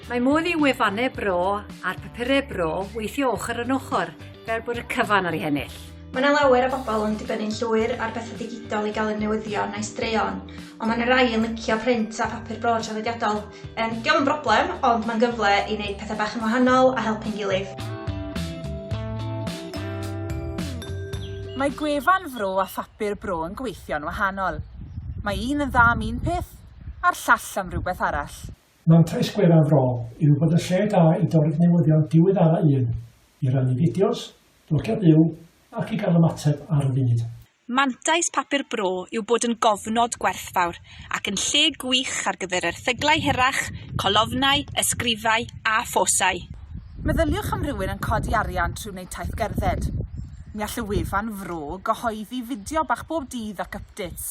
Mae modd i wefannau bro a'r papurau bro weithio ochr yn ochr, fel bod y cyfan ar ei hennill. Mae yna lawer o bobl yn dibynnu'n llwyr ar bethau digidol i gael eu newyddion a'u straeon, ond mae yna rai yn licio print a phapur bro traddodiadol. Yym, dio'm yn broblem, ond mae'n gyfle i wneud pethau bach yn wahanol a helpu'n gilydd. Mae gwefan Fro a phapur Bro yn gweithio'n wahanol. Mae un yn dda am un peth, a'r llall am rywbeth arall. Mantais gwefan Fro yw bod yn lle da i dorri'ch newyddion diweddara un, i rannu fideos, blogiau byw, ac i gael ymateb ar y funud. Mantais Papur Bro yw bod yn gofnod gwerthfawr ac yn lle gwych ar gyfer erthyglau hirach, colofnau, ysgrifau a phosau. Meddyliwch am rywun yn codi arian trwy wneud taith gerdded. Mi all y wefan fro gyhoeddi fideo bach bob dydd ac ypdêts.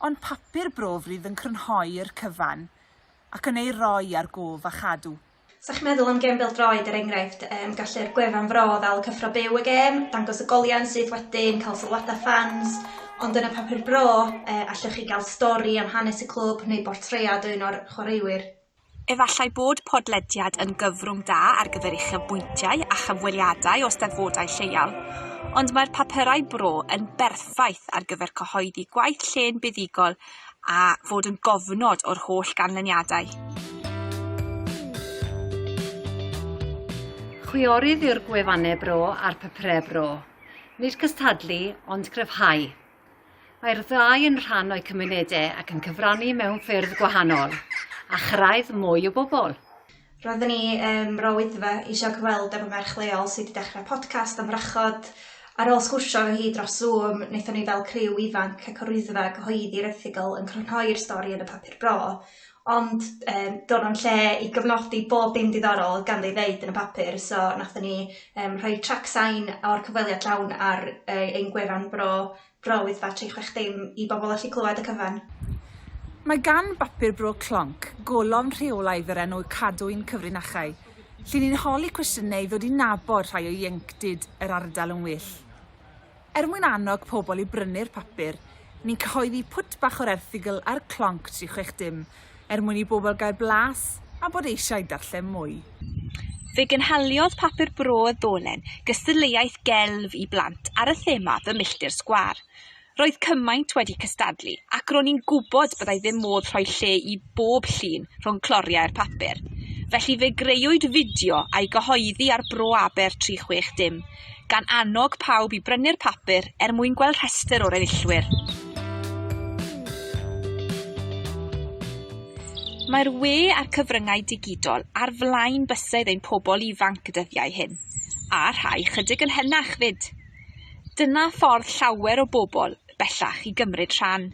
Ond Papur Bro frydd yn crynhoi'r cyfan ac yn ei roi ar gof a chadw. 'Sa chi'n meddwl am gêm bêl-droed er enghraifft yym gallu'r gwefan Fro ddal cyffro byw y gêm, dangos y goliau syth wedyn, cael sylwadau ffans, ond yn y papur Bro yy allwch chi gael stori am hanes y clwb neu bortread o un o'r chwaraewyr. Efallai bod podlediad yn gyfrwng da ar gyfer uchafbwyntiau a chyfweliadau o Steddfodau lleol, ond mae'r papurau Bro yn berffaith ar gyfer cyhoeddi gwaith llên buddugol a fod yn gofnod o'r holl ganlyniadau. Chwiorydd yw'r gwefannau bro a'r papurau bro. Nid cystadlu, ond cryfhau. Mae'r ddau yn rhan o'u cymunedau ac yn cyfrannu mewn ffyrdd gwahanol, a chyrraedd mwy o bobl. Roedden ni ym Mro Wyddfa isio cyfweld efo merch leol sy 'di dechra podcast am wrachod. Ar ôl sgwrsio efo hi dros Zoom naethon ni fel criw ifanc ac o'r Wyddfa gyhoeddi'r erthygl yn crynhoi'r stori yn y papur bro ond yym do' na'm lle i gyfnodi bob dim diddorol o'dd ganddo i ddeud yn y papur so nathon ni yym rhoi trac sain o'r cyfweliad llawn ar yy ein gwefan bro Roedd batri chwech dim i bobl allu clywed y cyfan. Mae gan bapur Bro Clonc golofn rheolaidd o'r enw Cadwyn Cyfrinachau, lle ni'n holi cwestiynau i ddod i nabod rhai o ieuenctid yr ardal yn well. Er mwyn annog pobl i brynu'r papur, ni'n cyhoeddi pwt bach o'r erthygl ar Clonc tri chwech dim er mwyn i bobl gael blas a bod eisiau darllen mwy. Fe gynhaliodd Papur Bro y Ddolen gystadleuaeth gelf i blant ar y thema Fy Milltir Sgwâr. Roedd cymaint wedi cystadlu ac ro'n i'n gwybod byddai ddim modd rhoi lle i bob llun rhwng cloriau'r papur. Felly fe greuwyd fideo a'i gyhoeddi ar Bro Aber 360 gan annog pawb i brynu'r papur er mwyn gweld rhestr o'r enillwyr. Mae'r we a'r cyfryngau digidol ar flaen bysedd ein pobl ifanc y dyddiau hyn, a rhai chydig yn henach fyd. Dyna ffordd llawer o bobl bellach i gymryd rhan.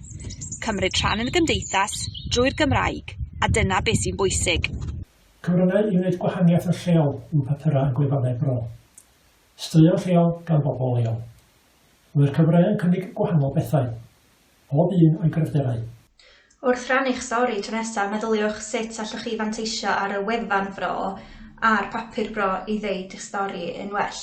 Cymryd rhan yn y gymdeithas drwy'r Gymraeg, a dyna beth sy'n bwysig. Cyfryngau i wneud gwahaniaeth yn lleol yw papurau a gwefannau bro. Straeon lleol gan bobl leol. Mae'r cyfryngau yn cynnig gwahanol bethau, pob un o'i gryfderau. Wrth rannu'ch stori tro nesaf, meddyliwch sut allwch chi fanteisio ar y wefan fro a'r papur bro i ddeud eich stori yn well.